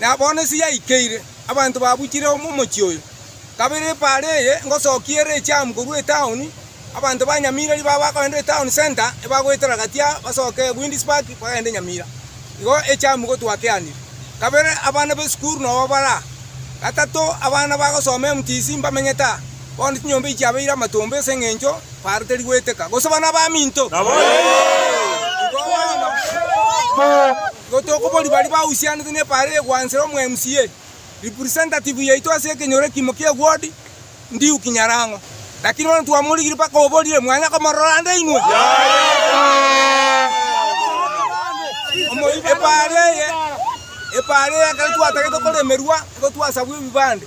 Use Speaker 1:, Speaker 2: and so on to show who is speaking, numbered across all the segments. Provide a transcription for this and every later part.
Speaker 1: Na bono ase yaikeire, abanto babuchire omochie oyo, kabere epaara eye ngosokia ere echamu korwa etaoni, abanto ba Nyamira riba abagoendire etaoni center ebagoetera gatia basoke Winds Park bagende Nyamira. Igo echamu gotwakeanire. Kabere abana b'esukuru nobo bare aa. Gatato abana bagosoma MTC mbamenyete aa. Bono chinyomba echi chiabeire amatomba ase eng'encho paaro teri goeteka, gose bana abaminto. Igo bono. Igo tokoboria baria bahusianete nepaara eye gwansera omo MCA, representative yaito ase ekenyoro ekimo kie ward, Ndiuki Nyarang'o. Lakini bono twamorigirie mpaka oborire mwanya komorora nde inwe. Epaara eye, epaara eye ekero twatagete koremerwa, igo twasabwa ebibande.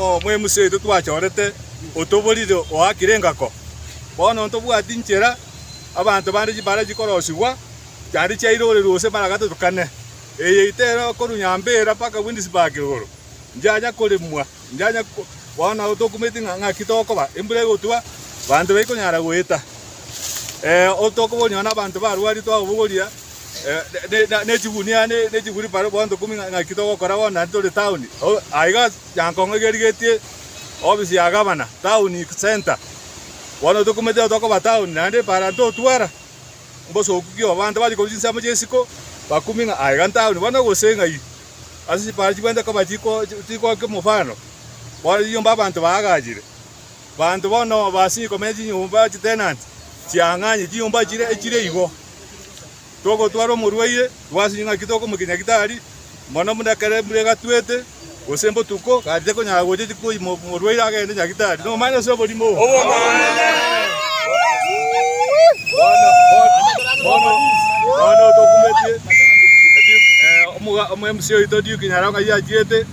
Speaker 2: omwemusi oito twachorete otoborire oakire engako. Bono ntobwati nchera abanto bande chibare chikorosigwa, chiaria chiairorerwe gose baragatetukane. Eye itera korwa Nyambera mpaka Windisburg igoro, nchianya koremwa, nchianya ko, bono nabo tokumeti ng'a ng'aki tokoba, embura egotwa, banto baikonyara goeta. Eh, otokobori nonya nabanto barwarire twababogoria. nechigunia nechiguruparo bondo ikomi ng'aki togokora bono naende tore town. Aiga Nyankong'o igerigetie ofisi ya gavana town centre. Bono tokumanyete tokoba town naende epara totwara mbosoku ki abanto baria korwa chinsemo chiesiko bakumi ng'a aiga town bono gose ng'ai ase chipara chibwenerete koba chikokia mofano bono chiyomba abanto baagachire. Banto bono base ikomenya chinyomba chitenanti chiang'anye chinyomba chire echire igo. Togotwara omorwaire, twasinye ng'aki tokomokinya ki tari mono buna ekero embura egatwete, gose botuko, gaki tekonyara gocha koima omorwaire agende ng'aki tari nomanya ase oborimo obo. Omwe mca oito Duke Nyaronga yachirete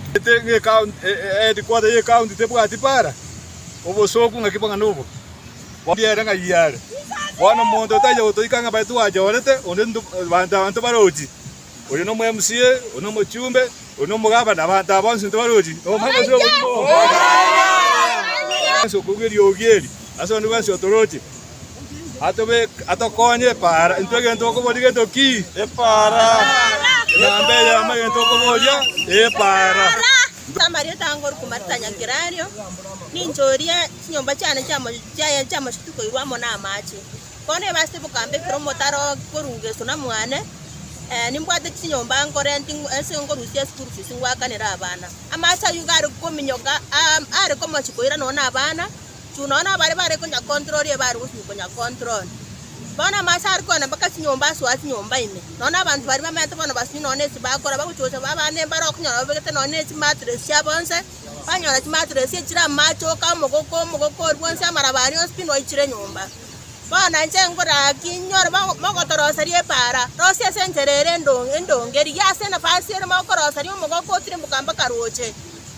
Speaker 2: ng'ekaunti headquarter y'ekaunti tebwati para. obosooku ng'aki bang'ana nobo, bombie ere ng'ai are. Bono omonto otaicha gotoika ng'a baito gwanchorete, onde nto banto abanto barochi, oria nomo MCA, oria nomochumbe, oria nomogabana, na abanto aba bonsi nto barochi, nomanya ase obogima obo. Bwensi okobua eriogi eri, ase onde bwensi otoroche, atobe atokonye epaara, intwe egento okoboria gento ki? Epaara. Egambe eyemo egento okoboria, epaara. Amarieta
Speaker 3: ange Oruku Marita Nyakerario, ninche oria chinyomba chiane chiaye chiamochie tikoirwa amo namache. Bono ebasete bokambe ekero omotaro korwa Geso na mwane, nimbwate chinyomba nkorenti ase nkorusia school fees ngwakanere abana. Amache ayio gare kominyoka are komochie koira nonya na abana. chuu nonya nabare bare konya control eye bare gochia konya control. Bono amache are kogenda mpaka chinyomba ase oa chinyomba ime. Nonya na abanto baria bamenyete bono basunyire nonya na esi bakora bagochia gosaba abande embara okonyora babegete nonya na echi mattress chiabo nse, banyora chi mattress echi chire amache oka omogoko omogoko oria bwonsi amaraba aria onsi pi noichire nyomba. Bono inche ngoraki inyore mo mogotoroseria epaara rosie ase enchera ere endo endonge rigia ase enafasi ere mogokorosaria omogoko otirimboka mpaka roche.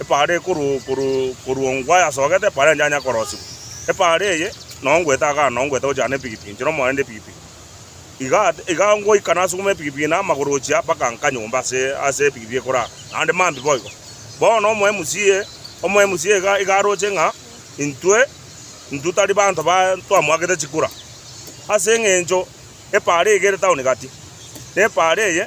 Speaker 4: Epaara eye koruongwa yasogete, epaara enchanya yakorosigwa. Epaara eye nonya ngoeta agana, nonya ngoeta gochia na epikipiki, inche nomoyo nende epikipiki. Igaa igaa ngoika nasuguma epikipiki na amagoro gochia mpaka nka nyomba ase ase epikipiki ekorara, naende mambia boigo. Bono omo MCA, omo MCA iga iga aroche ng'a intwe intwe tari banto ba twamwagete chikura, ase eng'encho epaara eye ere town gati, na epaara eye.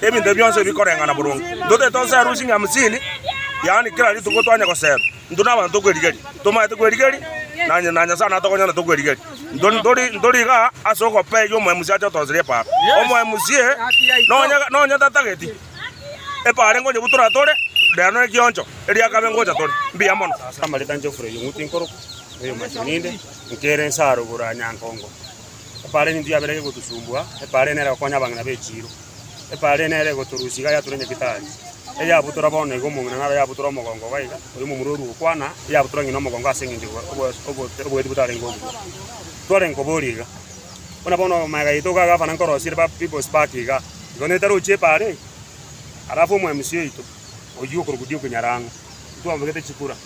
Speaker 4: Ebinto bionsi bikoreng'ana boronge. Intwe tari tosa eharusi ng'a hamsini, yaani kera rituko twanya goserwa. Intwe nabanto tokwerigeria. Tomaete kwerigeria, na onye na Nyasae natokonyora tokwerigeria. Intwe ntori ntori igaa ase ogopee iga omoemusi ache otorosire epaaro. Omoemusie nonya nonya tatageti epaaro engonyebu toratore, rero nere kioncho erio akabe ngocha tore. Mbuya mono. Amarita Geoffrey Ong'uti Nkoruku, oyomo ase Onyinde, nkere Nsaro Bura Nyankongo. Epaara eminto yabere egotosumbua, epaara eye nere egokonya abang'ina b'echiiro, epaara eye nere egotorusia iga yatura nyakitari, eyabutora bono iga omong'ina nabe yabutora omogongo iga iga, oyo omomura orue gokwana, eyabutora ng'ina omogongo ase engencho obo- obo- obote oboeti botarenge obua. Twarenge koboria iga, buna bono magega yaito iga gavana nkorosia ere ba people's park iga, igo nere tarochie epaara eye, alafu omo mca oito oyio okorokwa Duke Nyarango, intwe ababegete chikura.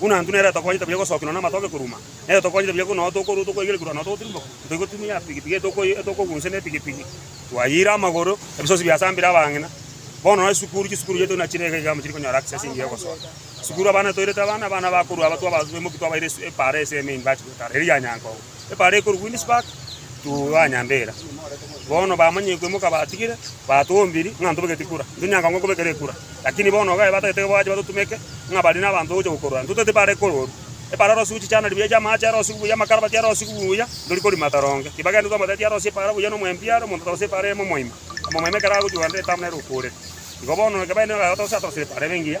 Speaker 4: Buna intwe nere tokonyete buya gosokinwa namatoke koruma, nere tokonyete buya buna tokorua tokoigerekerwa nonya togotirimboka, toigotumia epigipigi eye etokogunsia nepigipigi, twayeire amagoro, ebisosi biasambire abang'ina. Bono nonya chisukuru, chisukuru chiaito buna chire iga iga amo chirikonyora access engiya egosoa. Chisukuru abana toirete abana, abana bakorua aba twabaimoki twabaira epaara ase ime university goetara, eria ya Nyankogo. Ebaara ekorwa Queenspark to Anyambera. Bono bamanya ekoimoka batigire, batombiri ng'a ntobegeti kura. Ntunyanga ng'o kobekera ekura. Lakini bono ogae batagete goacha batotumeke ng'a bari nabanto bagocha gokorora. Ntotaete ebaara ekorwa ororo. Ebaara erosigu chichana ribuya chia amaache arosigu buya, amakarabati arosigu buya, ntori korima toronge. Tibagende twa omoteti arosie ebaara buya na omwempi are, omonto tarosie ebaara eyemo moima. Omomoima ekero agochia kogenda etamu nere okoreka. Igo bono ekebaa ekiagotosire atorosire ebaara ebe engiya.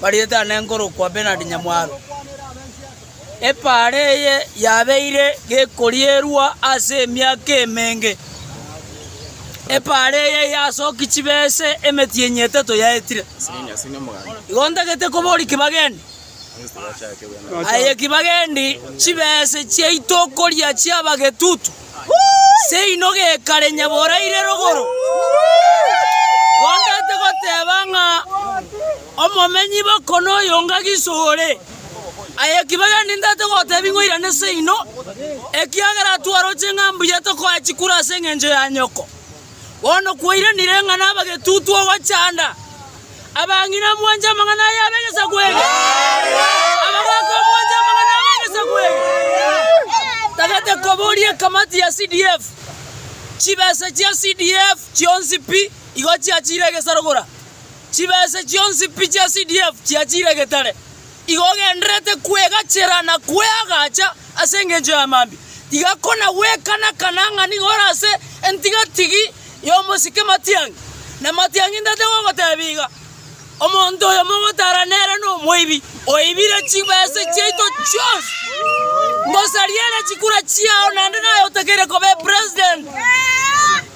Speaker 5: bariete aane nkorokwa Bernard Nyamwaro. Epaara eye yabeire gekorierwa ase emiaka emenge. Epaara eye yasoki chibese emetienyi etato yaetire. Igo ntagete kobori kibageni. Aye kibageni chibese chiaito koria chiaba getutu. seino gekare nyaboraire rogoro, gontagete goteba ng'a omomenyi b'okono oyo ng'agiso ore. Aye ki bagenda intagete gotebi ng'a oirane seino, ekiagera twaroche ng'a mbuya tokoa chikura ase engencho ya nyoko. Bono kwairanire ng'a nabagetutu ogochanda. Abang'ina mwanche amang'ana aya ab'egesaku eke, abagoka mwanche amang'ana aba egesaku eke. Tagete koboria ekamati ya CDF. Chibesa chia CDF chionsi pi igo chiachire egesarogora. Chibesa chionsi pi chia CDF chiachire egetare. Iga ogendererete kwegachera na kweagacha ase engencho ya mambia, iga kona gwekanakana ng'a nigo ore ase entigatigi y'omosike matiang'i, na matiang'i ntatabe gogotebia iga, Omonto oyo mogotara nere nomoibi, oibire chibese chiaito chionsi. Ngosaria ere chikura chiao naende naye otakeire koba epresident.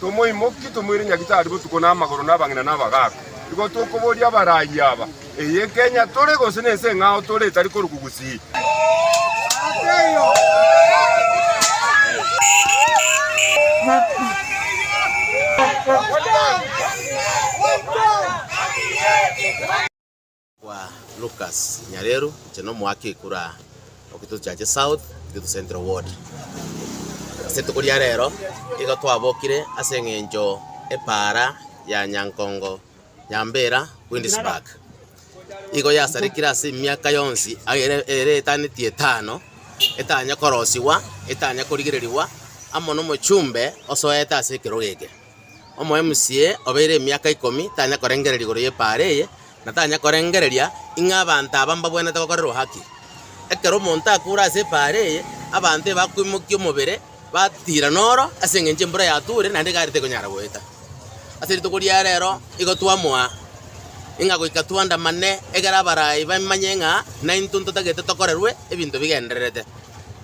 Speaker 6: Tomoimokie, tomoire nyagitari botuko na amagoro nabang'ina na abagaaka. Igo tokoboria abaraiyo aba, Eye Kenya tore, gose nense eng'ao tore etari korwa Gugusii?
Speaker 7: Kwa Lucas Nyareru inche nomoake ekura Okito Chache South Okito Central Ward. Ase rituko ria rero igo twabokire ase eng'encho epaara ya Nyankongo Nyambera Queensburg igo yasarekire ase emiaka yonsi ere ere etaneti etano etanya korosiwa etanya korigererigwa amo nomochumbe osoete ase ekerogo eke. Omoemsie obeire emiaka ikomi tanya korengereria igoro y'epaara eye, na tanya korengereria ing'a abanto aba mbabwenerete gokorerwa haki. Ekero omonto akure ase epaara eye, abanto ebakoimokia omobere, batiira noro ase engencho embura yatuure, naende igare tekonyara goeta. Ase rituko ria reero igo twamoa ing'a goika twandamane, egere abarai bamanye ng'a naintwe ntotagete tokorerwe ebinto bigendererete.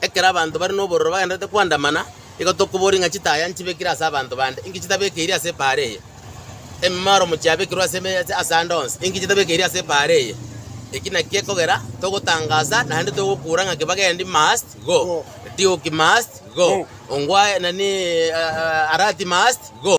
Speaker 7: Ekero abanto bare nobororo bagendererete kwandamana. Igo tokoboria ng'a chitaaya nchibekire ase abanto bande, inki chitabekeiri ase epaara eye? Ememoromo chiabekirwe ase emechie ase ande onsi, inki chitabekeiri ase epaara eye? Eki nakio ekogera togotangaasa naende togokuura ng'a Kibagendi must go, Diuki must go, Ongwae nani Arati must go.